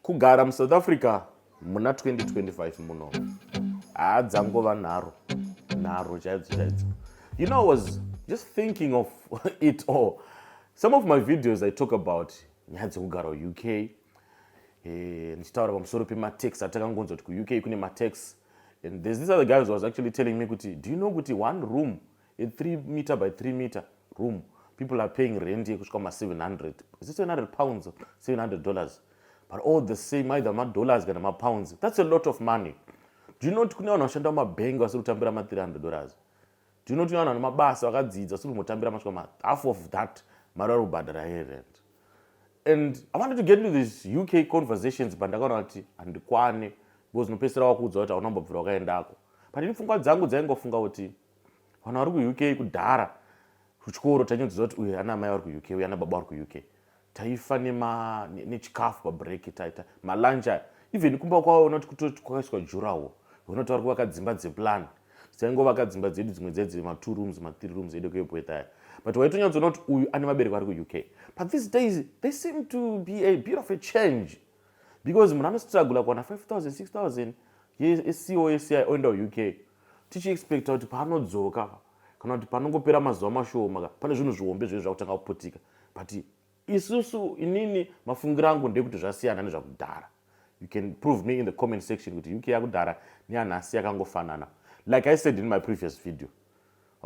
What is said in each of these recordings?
Kugara muSouth Africa muna 2025 muno haa dzangova nharo nharo chaidzo chaidzo you know i was just thinking of it all some of my videos i talk about nyaya dzekugara uk eh, ndichitaura pamusoro pematex atakangonzwa kuti kuuk kune matex and there's this other guy was actually telling me kuti do you know kuti one room a 3 meter by 3 meter room people are paying rent yekusvika ma 700 is it 700 pounds 700 dollars but all the same either madollars kana mapounds that's a lot of money do you not kune vanhu vashanda mumabhengi vasiri kutambira ma 300 dollars do you not kune vanhu vane mabasa vakadzidza vasiri kumbotambira masvika ma half of that mari vari kubhadhara here rent and i wanted to get into this uk conversations but ndakaona kuti handikwane because unopedzisira wakuudza kuti hauna mbobvira wakaendako but ini pfungwa dzangu dzaingofunga kuti vanhu vari kuuk kudhara kuchikoro tanyudzidza kuti uyu ana amai vari kuuk uyu ana baba vari kuuk taifa nechikafu pabreak taita malunch aya even kumba kwavo unoti kutoti kwakaiswa jurawo unoti vari kuvaka dzimba dzeplan dzaingovaka dzimba dzedu dzimwe dzedzi matwo rooms mathree rooms edu kuebweta aya but waitonyatsoona kuti uyu ane vabereki vari kuuk but these days they seem to be a bit of a change because munhu anostragula kuwana 5000 6000 yecosi oenda kuuk tichi expecta kuti paanodzoka kana kuti panongopera mazuva mashoma ka pane zvinhu zvihombe zvinhu zvakutanga kuputika but isusu inini mafungiro angu ndekuti zvasiyana nezvakudhara you can prove me in the comment section kuti uk yakudhara neyanhasi yakangofanana like i said in my previous video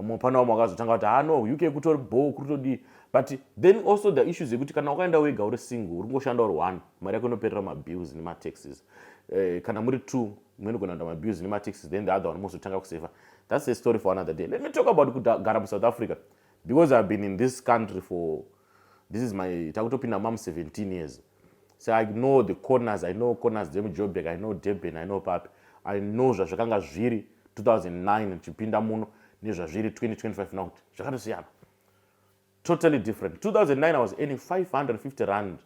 mupana wamwe wakazotanga kuti haa no uk kutori bhoo kuri todii but then also the issues yekuti kana wakaenda wega uri single uri kungoshanda uri one mari yako inoperera mabills nemataxes eh, kana muri two mweni kuenda kuenda mabills nemataxes then the other one mozotanga kuseva that's a story for another day let me talk about kugara musouth africa because ihave been in this country for this is my takutopinda mam 17 years so i know the corners i know corners dzemujobek i know durban i know papi i know zvazvakanga zviri 2009 tichipinda muno nezvazviri 2025 nokuti zvakatosiyana totally different 2009 i was earning 550 rand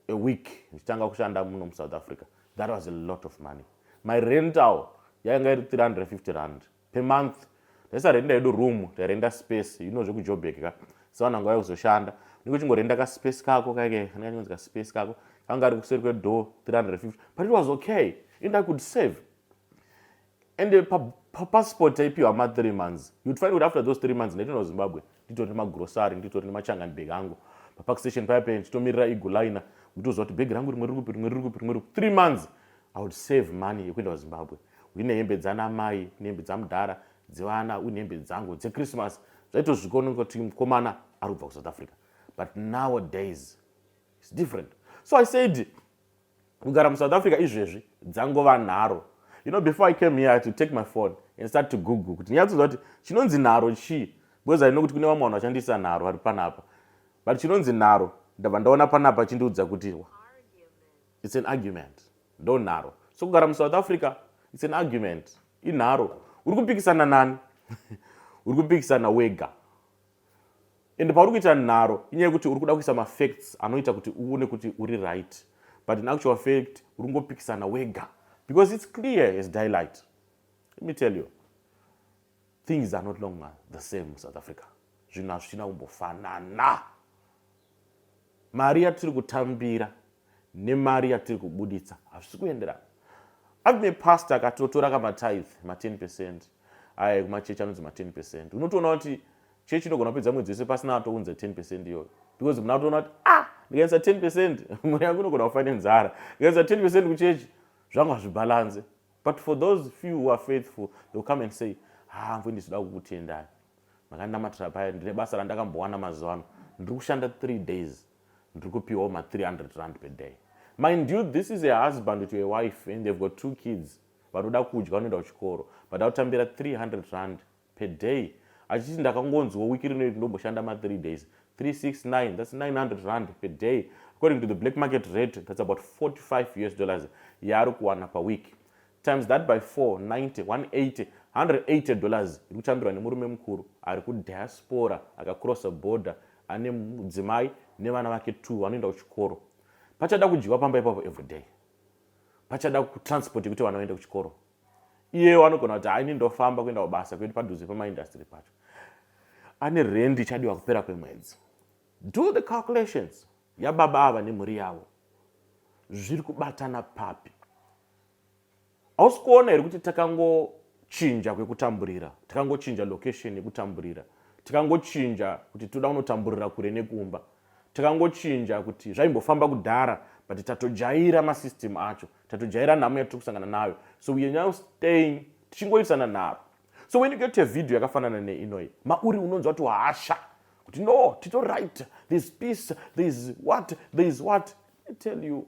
a week ndichitanga kushanda muno musouth africa that was a lot of money my rental yainga iri 350 rand per month ndaisarenda hedu room tairenda space you know zvekujobek ka saona nguva yekuzoshanda niko chingorenda kaspace kako kaike kana kachinonzi kaspace kako kanga ari kuseri kwedoor 350 but it was okay and i could save and eh, pa, pa passport taipiwa ma 3 months you'd find kuti after those 3 months ndaitoenda kuzimbabwe nditori nemagrocery nditori nemachangani bag angu papark station paya paya ndichitomirira eagle liner nditoziva kuti bhegi rangu rimwe riri kupi rimwe riri kupi rimwe riri kupi three months i would save money yekuenda kuzimbabwe uine hembe dzana mai nehembe dzamudhara dzevana uine hembe dzangu dzechristmas zvaitosvika unenge kuti mukomana ari kubva kusouth africa but nowadays its different so i said kugara musouth africa izvezvi dzangova nharo you know before i came here i had to take my phone and start to google kuti ndinyatsoziva kuti chinonzi nharo chii because i know kuti kune vamwe vanhu vashandisa nharo vari panapa but chinonzi nharo ndabva ndaona panapa chindiudza kuti its an argument ndo nharo so kugara musouth africa its an argument inharo uri kupikisana nani uri kupikisana wega and pauri kuita nharo inyaya yekuti uri kuda kuisa mafacts anoita kuti uone kuti uri right but in actual fact uri kungopikisana wega because its clear as daylight let me tell you things are not longer the same south africa zvinhu hazvichina kumbofanana mari yatiri kutambira nemari yatiri kubuditsa hazvisi kuenderana avime past akatotora ka matithe ma 10 percent aye kumachechi anonzi ma 10 percent unotoona kuti chechi inogona kupedza mwedzi wese pasina atounza 10 percent iyoyo because muna kutoona kuti ah ndikaisa 10 percent mhuri yangu inogona kufa nenzara ndikaisa 10 percent kuchechi zvangu hazvibhalanze but for those few who are faithful they will come and say hambo ah, ndizvida kukutendai makandinamatira paya ndine basa randakambowana mazuva ano ndiri kushanda three days ndiri kupiwawo ma 300 rand per day mind you this is a husband to a wife and they've got two kids vanoda kudya vanoenda kuchikoro but akutambira 300 rand per day achiti ndakangonzwa wiki rino iti ndomboshanda ma 3 days 369 thats 900 rand per day according to the black market rate thats about 45 us dollars yaari kuwana paweek times that by 4 90 180 180 dollars iri kutambirwa nemurume mukuru ari kudiaspora akacrossa border ane mudzimai nevana vake t vanoenda kuchikoro pachada kudyiwa pamba ipapo everyday pachada kutransport yekuti vana vaende kuchikoro iyeyo anogona kuti haini ndofamba kuenda kubasa kuendi padhuze pamaindastry pacho ane rendi ichadiwa kupera kwemwedzi do the calculations yababa ava nemhuri yavo zviri kubatana papi hausi kuona here kuti takangochinja kwekutamburira takangochinja location yekutamburira takangochinja kuti toda kunotamburira kure nekumba takangochinja kuti zvaimbofamba kudhara but tatojaira masystem acho tatojaira nhamo yatiri kusangana nayo so weare now staying tichingoitisana nharo so when you get a video yakafanana neinoyi mauri unonzwa kuti hasha kuti no tito right thereis peace thereis what thereis what i tell you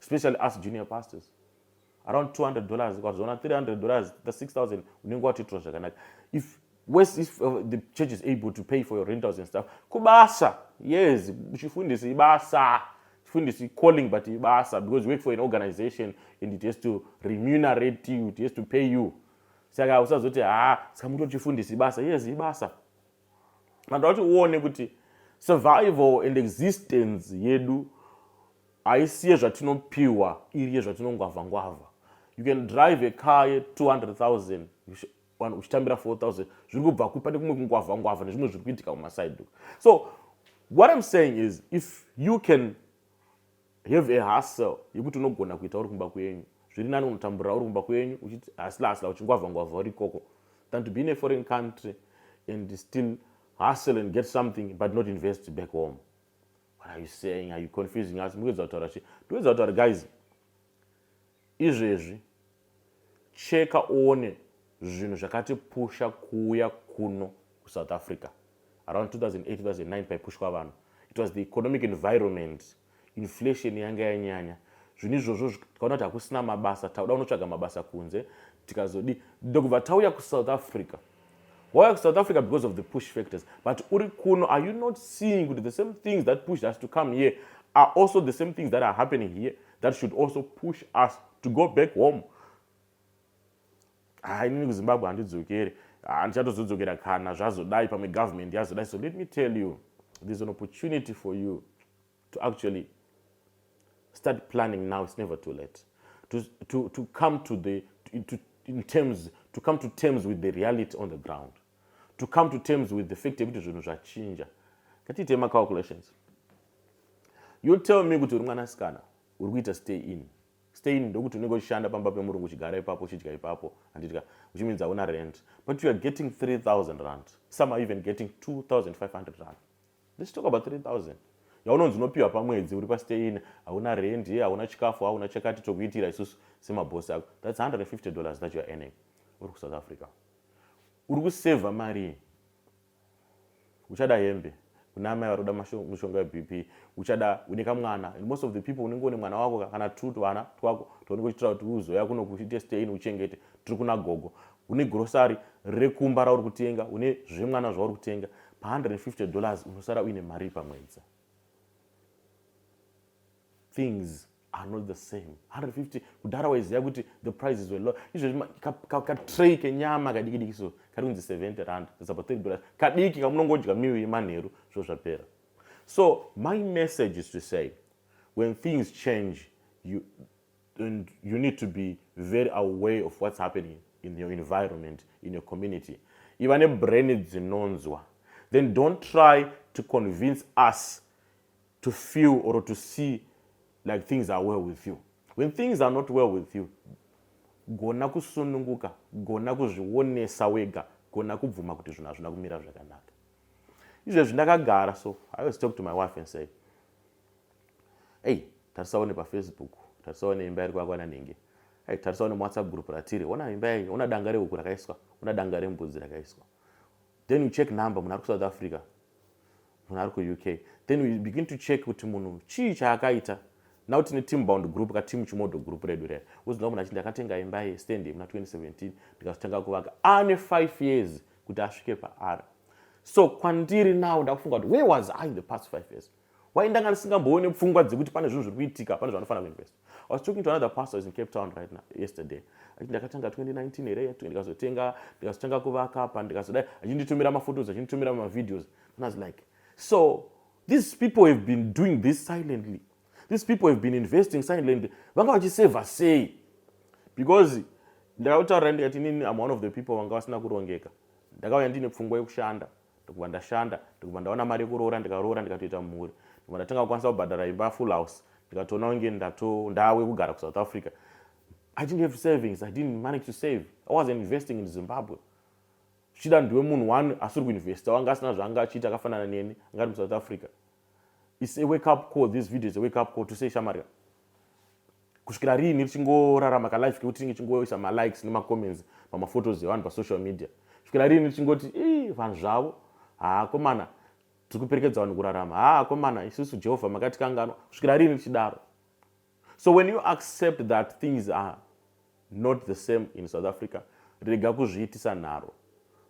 especially us junior pastors around 200 dollars ukazoona 300 dollars the 6000 unenge watoitirwa zvakanaka if worse if uh, the church is able to pay for your rentals and stuff kubasa yes chifundisi ibasa chifundisi calling but ibasa because you work for an organization and it has to remunerate you it has to pay you saka usazoti ha ah, saka mutori chifundisi ibasa yes ibasa vanoda kuti uone kuti survival and existence yedu haisi yezvatinopiwa iri yezvatinongwavha ngwavha you can drive a car ye 200000 uchitambira 4000 zviri kubva kupi pane kumwe kungwavha ngwavha nezvimwe zviri kuitika kumaside so what im saying is if you can Have a hustle yekuti unogona kuita uri kumba kwenyu. Zviri nani unotambura uri kumba kwenyu uchiti hasla hasla uchingwavha ngwavha uri ikoko than to be in a foreign country and still hustle and get something but not invest back home. What are you saying? Are you confusing us? Mukuedza kutaura chi? Ndokuedza kutaura guys Izvezvi cheka uone zvinhu zvakati pusha kuuya kuno kusouth africa around 2008-2009 paipushwa vanhu it was the economic environment inflation yanga yanyanya zvinhu izvozvo tikaona kuti hakusina mabasa takuda kunotsvaga mabasa kunze tikazodi ndokubva tauya kusouth africa wauya kusouth africa because of the push factors but uri kuno are you not seeing kuti the same things that pushed us to come here are also the same things that are happening here that should also push us to go back home ha inini kuzimbabwe handidzokere handichatozodzokera kana zvazodai pamwe government yazodai so let me tell you there's an opportunity for you to actually start planning now it's never too late to, to, to come to the to, to, in terms to come to terms with the reality on the ground to come to terms with the fact yekuti zvinhu zvachinja ngatiite macalculations you tell me kuti uri mwanasikana uri kuita stay in stay in ndokuti unenge uchishanda pamba pemurungu uchigara ipapo uchidya ipapo handitika uchiminzi hauna rent but you are getting 3000 rand some are even getting 2500 rand let's talk about 3000 yaunonzi unopiwa pamwedzi uri pastein hauna rent ye hauna chikafu hauna chakati tokuitira isusu semabhosi ako thats 150 dollars that youare earning uri kusouth africa uri kusevha marii uchada hembe kuna amai vari kuda mushonga webp uchada une kamwana and most of the people unenge une mwana wako kana two tuvana twako twaunenge uchiitira kuti uzoya kuno kuite stein uchengete tiri kuna gogo une grocery rekumba rauri kutenga une zvemwana zvauri kutenga pa 150 dollars unosara uine mari pamwedzi things are not the same 150 kudhara waiziva kuti the prices were low izvezvi katray kenyama kadikidiki so kari kunzi 70 rand that's about 30 dollars kadiki kamunongodya miu yemanheru zvo zvapera so my message is to say when things change you and you need to be very aware of what's happening in your environment in your community iva nebrain dzinonzwa then don't try to convince us to feel or to see like things are well with you when things are not well with you gona kusununguka gona kuzvionesa wega gona kubvuma kuti zvinhu hazvina kumira zvakanaka izvezvi ndakagara so i was talk to my wife and say ei tarisawo nepafacebook tarisawo neimba iri kwakwana nhingi ei tarisawo nemawhatsapp group ratiri ona imba yai ona danga rehuku rakaiswa ona danga rembudzi rakaiswa then you check number munhu ari kusouth africa munhu ari kuuk then you begin to check kuti munhu chii chaakaita now tine team bound group ka team chimodo group redu reya woziva munhu achiti ndakatenga imba yestand yemuna 2017 ndikazotanga kuvaka ane 5 years kuti asvike paari so kwandiri now ndakufunga kuti where was i in the past 5 years why ndanga ndisingamboone pfungwa dzekuti pane zvinhu zviri kuitika pane zvanofanira kuinvesta i was talking to another pastor is in cape town right now yesterday achiti ndakatanga 2019 here yatu ndikazotenga ndikazotanga kuvaka pa ndikazodai achinditumira maphotos achinditumira mavideos and i was like so these people have been doing this silently these people have been investing silently vanga vachiseva sei because ndakautaurira ndikati inini am one of the people vanga vasina kurongeka ndakauya ndiine pfungwa yekushanda ndikubva ndashanda ndikubva ndaona mari yekuroora ndikaroora ndikatoita mhuri ndikubva ndatanga kukwanisa kubhadhara imba full house ndikatoona kunge ndato ndawe kugara kusouth africa i didn't have savings i didn't manage to save i was investing in zimbabwe zvichida ndiwe munhu one asiri kuinvesta wanga asina zvaanga achiita akafanana neni angari musouth africa its a wake up call this video is a wake up call to say shamarika kusvikira riini richingorarama kalife kekuti tinge chingoisa malikes nemacomments pamaphotos evanhu pasocial media kusvikira riini richingoti i vanhu zvavo haakomana tiri kuperekedza vanhu kurarama haakomana isusu jehovha makatikanganwa kusvikira riini richidaro so when you accept that things are not the same in south africa rega kuzviitisa nharo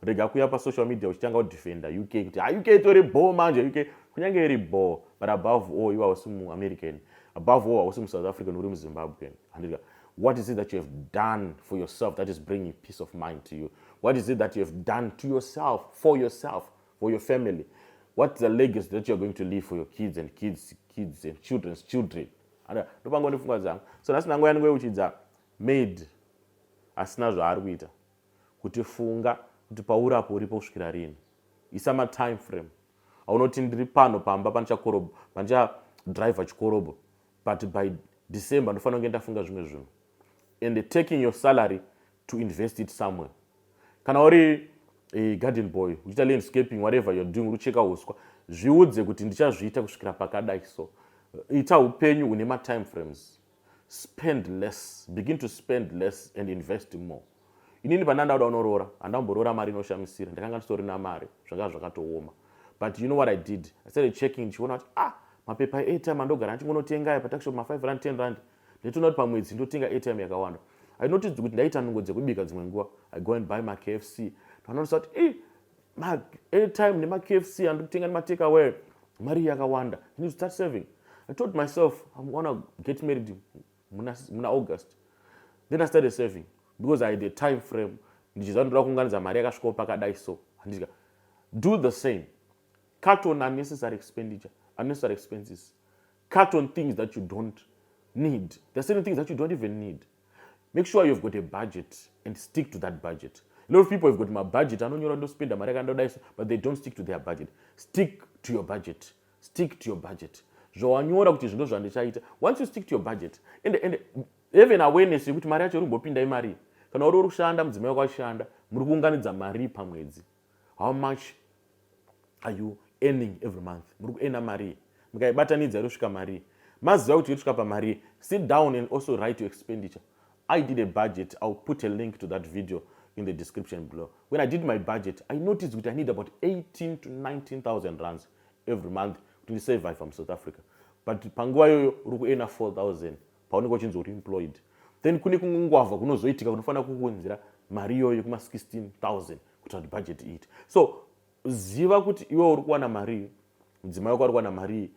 rega kuya pasocial media uchitanga kudefenda uk kuti ha ah, uk itori bho manje uk kunyange iri bho but above all iwe hausi muamerican above all hausi musouth african uri muzimbabwean handika what is it that you have done for yourself that is bringing peace of mind to you what is it that you have done to yourself for yourself for your family what's the legacy that you're going to leave for your kids and kids kids and children's children ndopanga ndifunga dzangu so nhasi ndango yanenge uchidza maid asina zvaari kuita kuti funga kuti pauri apo uripo kusvikira rini isa matime frame aunoti ndiri pano pamba pandichakorobo pandichadriver chikorobho but by december ndofanira kunge ndafunga zvimwe zvinhu and taking your salary to invest it somewhere kana uri eh, garden boy uchiita landscaping whatever you're doing urucheka uswa zviudze kuti ndichazviita kusvikira pakadai so ita upenyu hune matime frames spend less begin to spend less and invest more inini pana ndauda unoroora handamboroora mari inoshamisira ndakanga ndisori namari zvanga zvakatooma but you know what i did i started checking ndichiona kuti ah mapepa airtime andogara ndichingonotenga aya patakushop ma5 rand 10 rand ndaitoona kuti pamwedzi ndotenga airtime yakawanda i noticed kuti ndaita nungo dzekubika dzimwe nguva i go and buy makfc ndanonosa kuti e maairtime nemakfc andiri kutenga nematake away mari yakawanda i need to start saving i told myself im gonna get married muna, muna august then i started saving because i had a time frame ndichiziva ndoda kuunganidza mari yakasvikawo pakadai so handika do the same cut on unnecessary expenditure unnecessary expenses cut on things that you don't need there are certain things that you don't even need make sure you've got a budget and stick to that budget a lot of people have got mabudget anonyora ndospenda mari akandodaiso but they don't stick to their budget stick to your budget stick to your budget zvawanyora kuti zvindo zvandichaita once you stick to your budget and, and even awareness yekuti mari yacho iri kumbopinda imari kana uri uri kushanda mudzimai wako achishanda muri kuunganidza mari pamwedzi how much are you earning every month muri kuena marii mukaibatanidza inosvika marii maziva kuti yosvika pamarii sit down and also write your expenditure i did a budget iwill put a link to that video in the description below when i did my budget i noticed kuti i need about 18 to 19000 runs every month kuti ndisurvive from south africa but panguva iyoyo uri kuena 4000 paunenge uchinzi uri employed then kune kumwe ngwavha kunozoitika kunofanira kukuunzira mari iyoyo kuma 16000 kuita kuti budget iite so ziva kuti iwe uri kuwana marii mudzimai wako ari kuwana marii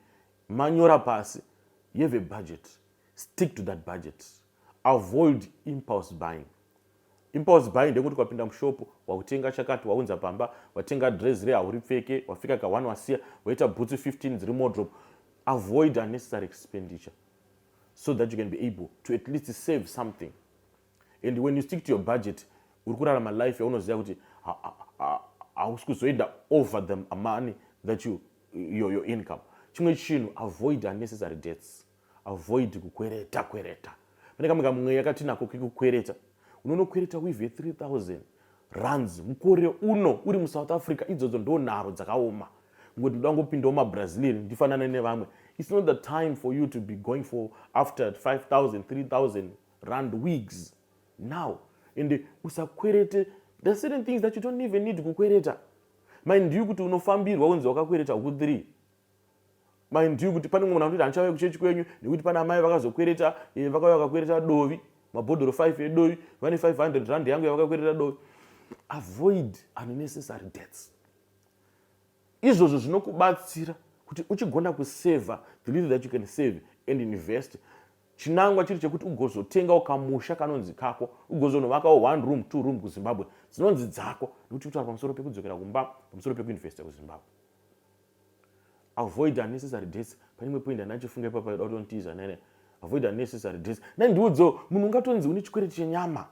manyora pasi you have a budget stick to that budget avoid impulse buying impulse buying ndekuti kwapinda mushopo wakutenga chakati waunza pamba watenga dress re hauri pfeke wafika ka one wasiya waita bhutsu 15 dziri modrop avoid unnecessary expenditure so that you can be able to at least save something and when you stick to your budget uri kurarama life yaunoziva kuti hausi kuzoenda over the money that you, your, your income chimwe chinhu avoid unnecessary debts avoid kukwereta kwereta pane kamwe kamweya katinako kekukwereta unonokwereta wive 3000 runs mukore uno uri musouth africa idzodzo ndo nharo dzakaoma ngokuti ndoda ngopindawo mabrazilian ndifanane nevamwe its not the time for you to be going for after 5000 3000 rand wigs now and usakwerete the certain things that you don't even need kukwereta mind you kuti unofambirwa unzi wakakwereta huku 3 mind you kuti pane mumwe munhu anoti handichauya kuchechi kwenyu nekuti pana amai vakazokwereta eh, vakauya vakakwereta dovi mabhodhoro 5 edovi vane 500 rand yangu yavakakwereta dovi avoid unnecessary debts izvozvo zvinokubatsira kuti uchigona kuseva the little that you can save and invest chinangwa chiri chekuti ugozotenga ukamusha kanonzi kako ugozonovakawo one room two room kuzimbabwe dzinonzi dzako nekuti kutaura pamusoro pekudzokera kumba pamusoro pekuinvesta kuzimbabwe avoid unnecessary dates pane imwe point andina chifunga ipapa yoda kutonitiza nene avoid unnecessary dates nai ndiudzewo munhu ungatonzi une chikwereti chenyama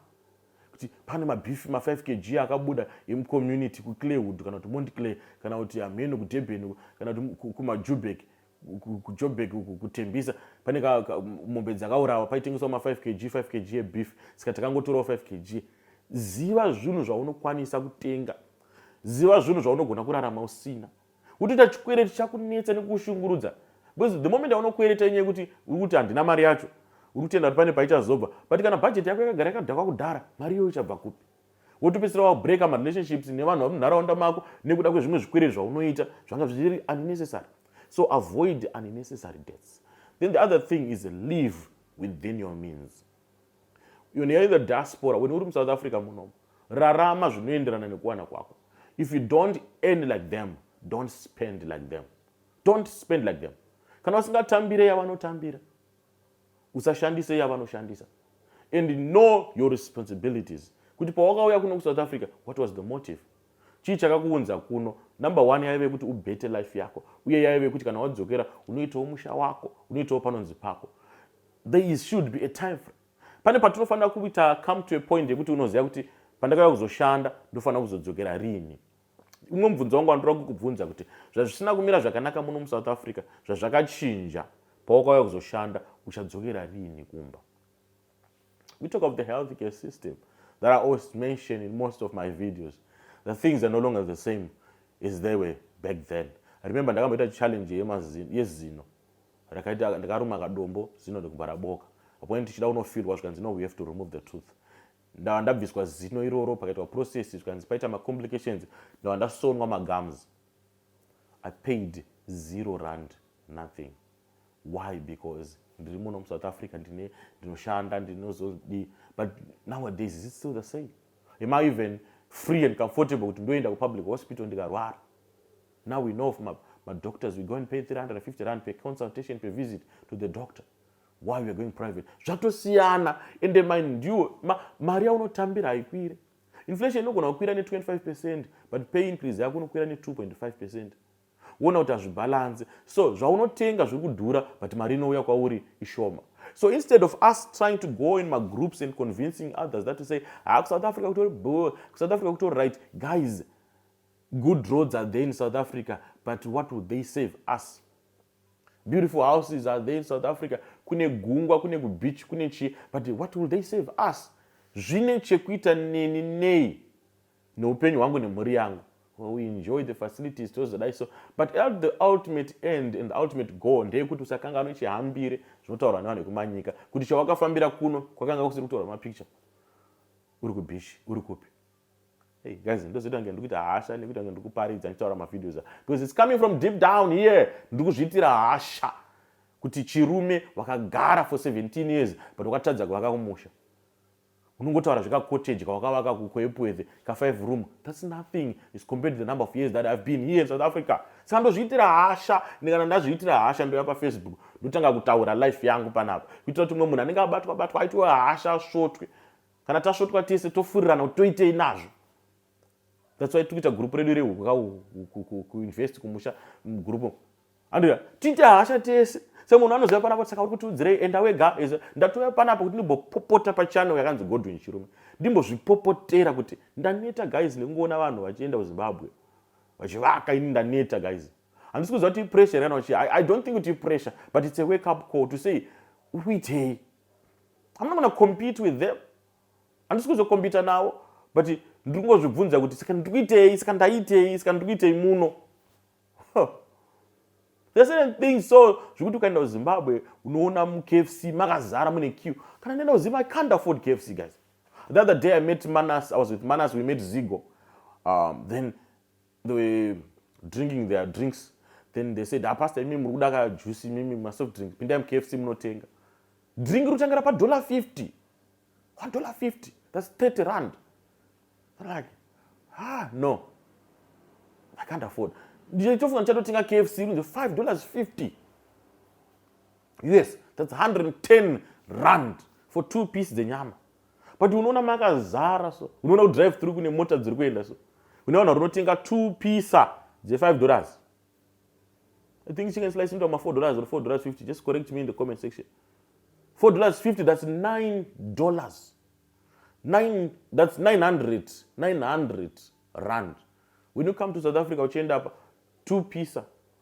kuti pane mabeef ma5 kg akabuda emucommunity kuclaywood kana kuti mont clay kana kuti hameno kudurban kana kuti kumajubek ku, kujobek kutembisa pane mombe dzakaurawa paitengeswa ma5 kg 5 kg yebeef saka takangotorawo 5 kg ziva zvinhu zvaunokwanisa kutenga ziva zvinhu zvaunogona kurarama usina kutoita chikwereti chakunetsa nekukushungurudza because the moment aunokwereta inyaya yekuti uri kuti handina mari yacho uri kutenda kuti pane paichazobva but kana bhajeti yako yakagara yakadhakwa kudhara mari iyo ichabva kupi wotopedzisira wabreaka marelationships nevanhu vamunharaunda mako nekuda kwezvimwe zvikwereti zvaunoita zvanga zviri unnecessary so avoid unnecessary debts then the other thing is live within your means When you're in the diaspora, when uri muSouth Africa munomu, rarama zvinoenderana nekuwana kwako. If you don't earn like them, don't spend like them. Don't spend like them. Kana usingatambire yavanotambira, usashandise yavanoshandisa. And know your responsibilities. Kuti pawakauya kuno kuSouth Africa, what was the motive? chii chakakuunza kuno number one yaive kuti ubete life yako uye yaive kuti kana wadzokera unoitawo musha wako unoitawo panonzi pako There should be a time frame. Pane patinofanira kuita come to a point yekuti unoziva kuti pandakauya kuzoshanda ndofanira kuzodzokera rini. Umwe mubvunzo wangu wandinoda kukubvunza kuti zvazvisina kumira zvakanaka muno muSouth Africa zvazvakachinja pawakauya kuzoshanda uchadzokera rini kumba. We talk of the health care system that I always mention in most of my videos. The things are no longer the same as they were back then. I remember ndakamboita challenge yezino rakaita ndakaruma kadombo zino ndikubvara boka apone tichida kunofirwa zvikanzi no we have to remove the tooth ndava ndabviswa zino iroro pakaitwa process zvikanzi paita macomplications ndava ndasonwa magums i paid zero rand nothing why because ndiri muno musouth africa ndine ndinoshanda ndinozodii but nowadays is it still the same am i even free and comfortable kuti ndoenda kupublic hospital ndikarwara Now we know from ma doctors we go and pay 350 rand per consultation per visit to the doctor why we are going private zvatosiyana ende mind you ma, mari yaunotambira haikwire inflation inogona kukwira ne25 percent but pay increase yako unokwira ne2.5 percent wona kuti hazvibhalanse so zvaunotenga zviri kudhura but mari inouya kwauri ishoma so instead of us trying to go in magroups and convincing others that to say ha ah, kusouth africa kutori bo kusouth africa kutori right guys Good roads are there in South Africa, but what would they save us? Beautiful houses are there in South Africa. Kune gungwa, kune kubeach, kune chi, but what will they save us? Zvine chekuita neni nei neupenyu hwangu nemhuri yangu. Well, we enjoy the facilities tozodai so but at the ultimate end and the ultimate goal ndeyekuti usakanganwe chihambire zvinotaurwa nevanhu vekumanyika kuti chawakafambira kuno kwakanga kusiri kutorwa mapicture uri kubishi uri kupi Hey guys, ndozoita kunge ndikuita hasha nekuita kunge ndikuparidza ndichitaura mavideos because it's coming from deep down here. Ndikuzviitira hasha kuti chirume wakagara for 17 years but wakatadza kuvaka kumusha unongotaura zvekacottage kawakavaka kukoepwethe ka5 room thats nothing is compared to the number of years that ihave been here in south africa saka ndozviitira hasha ndikana ndazviitira hasha ndoya pafacebook ndotanga kutaura life yangu panapa kuitira kuti umwe munhu anenge abatwa batwa aitiwe hasha svotwe kana tasvotwa tese tofurirana kuti toitei nazvo that's why tikuita gurupu redu rekuinvest kumusha mugurupu andira tiite hasha tese semunhu anoziva panapa saka uri kutiudzirei enda wega ndatouya panapa kuti ndimbopopota pachannel yakanzi godwin chirume ndimbozvipopotera kuti ndaneta guys nekungoona vanhu vachienda kuzimbabwe vachivaka ini ndaneta guys handisi kuziva kuti ipressure kana vachi i don't think kuti ipressure but it's a wake up call to say uitei I'm not gonna compete with them. Handisi kuzokompita navo but ndiri kungozvibvunza kuti saka ndiri kuitei saka ndaitei saka ndiri kuitei muno There are certain things so zvekuti ukaenda kuzimbabwe unoona mukfc makazara mune q kana ndaenda kuzim i can't afford kfc guys the other day i met manas i was with manas we met zigo um, then they were drinking their drinks then they said apasta ah, imi muri kuda ka juice imimi masoft drink pindai mukfc munotenga drink rutangira padollar 50 one dollar 50 thats 30 rand like ah no i can't afford ndichitofunga ndichatotenga kfc inonzi 5 dollars 50 us thats 110 rand for two piece dzenyama but unoona makazara so unoona kudrive through kune mota dziri kuenda so une vanhu varinotenga two pisa dzefive dollars i think chicken slice inoita mafour dollars or four dollars fifty just correct me in the comment section four dollars fifty that's nine dollars nine that's nine hundred nine hundred rand when you come to south africa uchienda apa two pisa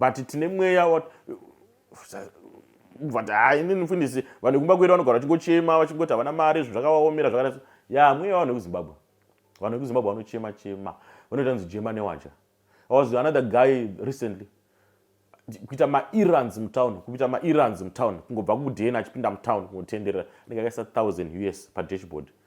but tine mweya wat but hai inini mfundisi vanhu kumba kwedu vanogara vachingochema vachingoti havana mari zvinhu zvakavaomera zvakati ya mweya vanhu vekuzimbabwe vanhu vekuzimbabwe vanochema chema vanoita nzi jema newacha i was another guy recently kuita maerrands mutown kuita maerrands mutown kungobva kudena achipinda mutown kunotenderera anenge akaisa 1000 us padashboard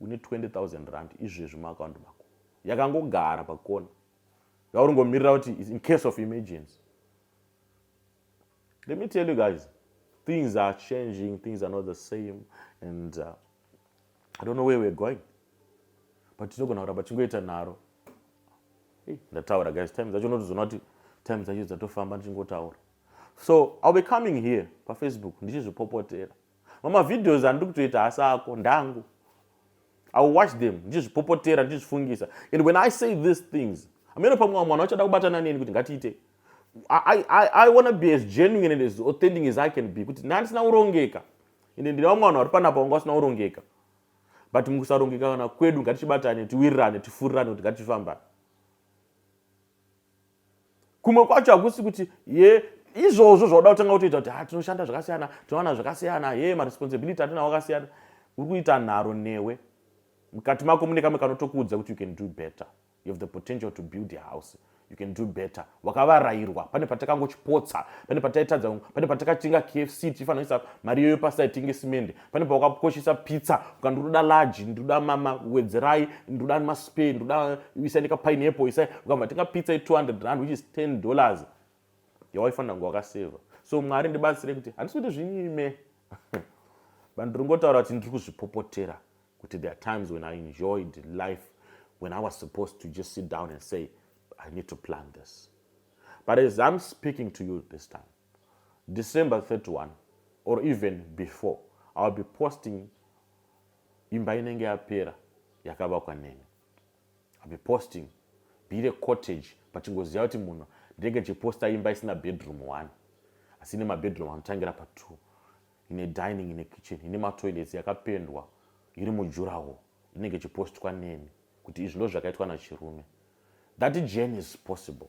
une 20000 rand izvezvi muakaundi mako yakangogara pakona yauringomirira kuti is in case of emergency let me tell you guys things are changing things are not the same and uh, i don't know where we're going but tinogona kuramba tichingoita nharo hey, ndataura guys time dzacho unotozoona kuti time dzacho dzatofamba ndichingotaura so ill be coming here pafacebook ndichizvipopotera mama videos andiri kutoita hasi ako ndangu i will watch them ndichizvipopotera ndichizvifungisa and when i say these things amene pamwe mwana wachada kubatana neni kuti ngatiite I, I, i wanna be as genuine and as authentic as i can be kuti ndandisina kurongeka ende ndine vamwe vanhu vari panapa vanga vasina kurongeka but mukusarongeka kana kwedu ngatichibatane tiwirirane tifurirane kuti ngatifambane kumwe kwacho hakusi kuti ye izvozvo zvauda kutanga kutoita kuti ha ah, tinoshanda zvakasiyana tinowana zvakasiyana ye maresponsibility atinawo akasiyana uri kuita nharo newe mukati mako mune kamwe kanotokuudza kuti you can do better you have the potential to build a house you can do better wakavarairwa pane patakangochipotsa pane pataitadza pane patakatenga kfc tichifanira kuisa mari iyoyo pasai tinge simende pane pawakakoshesa pizza uka ndinoda large ndinoda mama wedzerai ndinoda maspay ndinoda isai nekapineapple isai ukabva tenga pizza ye200 rand which is 10 dollars yawaifanira kunge wakaseva so mwari ndibatsire kuti handisi kuti zvinyime but ndiri ngotaura kuti ndiri kuzvipopotera kuti there are times when i enjoyed life when i was supposed to just sit down and say i need to plan this but as i'm speaking to you this time December 31 or even before I'll be posting imba inenge yapera yakavakwa neni I'll be posting bire cottage pachingoziva kuti munhu ndenge chiposta imba isina bedroom one asi ine mabedroom anotangira patwo ine dining ine kitchen ine matoilets yakapendwa iri mujurawo inenge chipostwa neni kuti izvi ndo zvakaitwa nachirume that journey is possible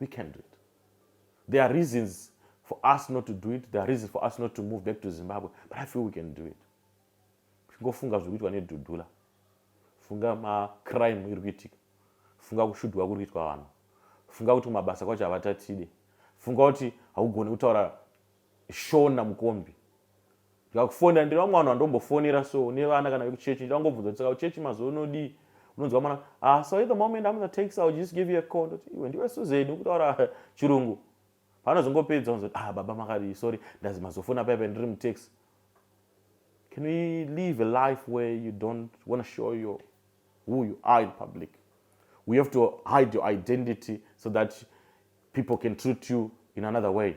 we can do it there are reasons for us not to do it there are reasons for us not to move back to zimbabwe but i feel we can do it chingofunga zviri kuitwa nedhudhula funga macrime iri kuitika funga kushudhwa kuri kuitwa vanhu funga kuti kumabasa kwacho havatatide funga kuti haugoni kutaura shona mukombi ndikakufonera ndiri vamwe vanhu vandombofonera so nevana kana vekuchechi ndida kungobvunza kuti saka kuchechi mazuva unodii unonzwa mwana ah so at the moment i'm the tax i'll just give you a call ndoti iwe ndiwe suzen ukutaura chirungu panozongopedza unzoti ah baba makadii sorry ndazi mazofona paipa ndiri mutax can we live a life where you don't want to show your who you are in public we have to hide your identity so that people can treat you in another way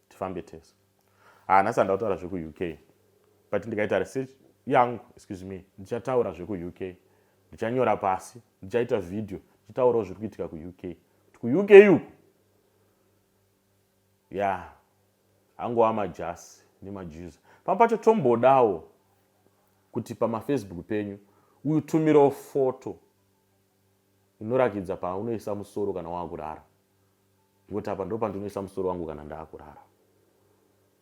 tifambe tese ah nhasi handida kutaura zvekuuk but ndikaita research yangu excuse me ndichataura zvekuuk ndichanyora pasi ndichaita video ndichitaurawo zviri kuitika kuuk kuti kuuk uku ya angova majasi nemajuza pamwe pacho tombodawo kuti pamafacebook penyu utumirawo foto inorakidza paunoisa musoro kana wakurara Ngokuti apa ndo pandinoisa musoro wangu kana ndaakurara.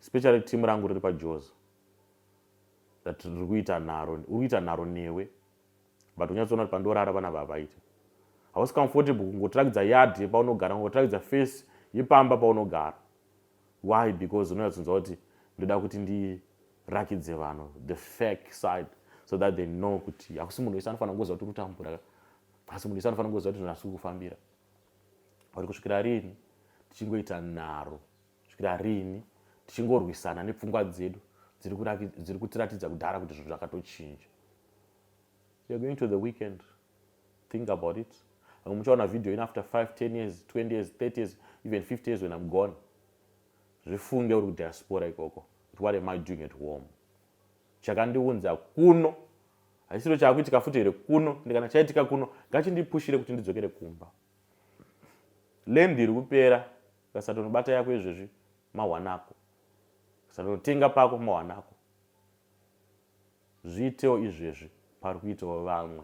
Especially team rangu riri paJoza. That riri kuita nharo, uri kuita nharo newe. But unyatsoona kuti pandorara vana vavaite. Hausi comfortable kungotirakidza yard yepaunogara, kungotirakidza face yepamba paunogara. Why? Because unonyatsonzwa kuti ndoda kuti ndi rakidze vanhu the fake side so that they know kuti hakusi munhu wese anofanira kungoziva kuti uri kutambura asi munhu wese anofanira kungoziva kuti zvinhu asi kukufambira uri kusvikira rini tichingoita nharo kusvikira rini tichingorwisana nepfungwa dzedu dziri kutiratidza kudhara kuti zvinhu zvakatochinja you're going to the weekend think about it vamwe muchaona video in after 5 10 years 20 years 30 years even 50 years when i'm gone zvifunge uri kudiaspora ikoko kuti what am i doing at home chakandiunza kuno haisiro chaakuitika futi here kuno ndikana chaitika kuno ngachindipushire kuti ndidzokere kumba lendi iri kupera kasatonobata yako izvezvi mawanako kasatonothenga pako mawanako zviitewo izvezvi pari kuitawo vamwe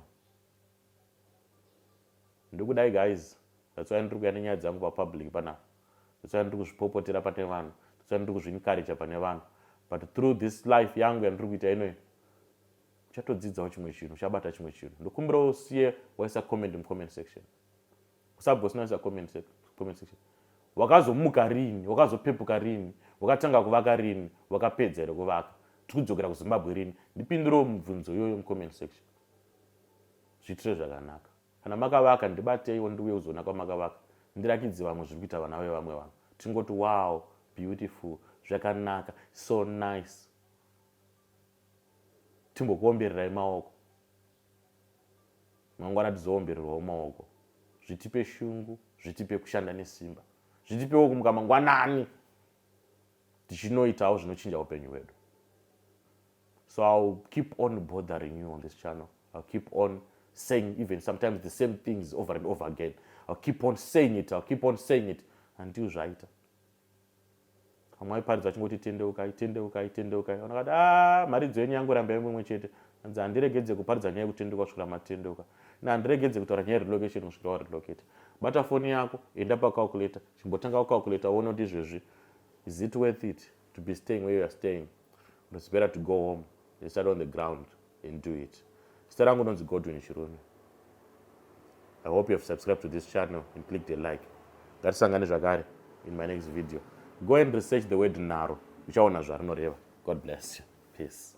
ndikudai guys that's why ndiri kuya nenyaya dzangu papublic panapa that's why ndiri kuzvipopotera pane vanhu that's why ndiri kuzviencouraja pane vanhu but through this life yangu yandiri kuita inoyi uchatodzidzawo chimwe chinhu uchabata chimwe chinhu ndokumbirawo usiye waisa comment mucomment section usagosinaisa comment comment section wakazomuka rini wakazopepuka rini wakatanga kuvaka rini wakapedza here kuvaka tiri kudzokera kuzimbabwe rini ndipindirewo mubvunzo iyoyo mucomment section zviitire zvakanaka kana makavaka ndibateiwo ndiuye kuzoona kwamakavaka ndirakidze vamwe zviri kuita vana vevamwe vanhu tingoti wow beautiful zvakanaka so nice timbokuombererai maoko mangwana tizoombererwawo maoko zvitipe shungu zvitipe kushanda nesimba zvitipewo kumuka mangwanani tichinoitawo zvinochinja upenyu hwedu so ill keep on bothering you on this channel ill keep on saying even sometimes the same things over and over again ill keep on saying it ill keep on saying it until zvaita vamwe vaiparidza vachingoti tendeukai tendeukai tendeukai vanhu vakati a mharidzo yenyu yangoramba imwe imwe chete hanzi handiregedze kuparidza nyaya yekutendeuka kusvikira matendeuka na handiregedze kutaura nyaya yerelocation kusvikira warelocate bata foni yako enda pacalculator chimbotanga wacalculator uone kuti izvezvi is it worth it to be staying where youare staying or it's better to go home and start on the ground and do it zita rangu nonzi godwin chirume i hope you have subscribed to this channel and click the like ngatisangane zvakare in my next video go and research the word naro uchaona zvarinoreva god bless you peace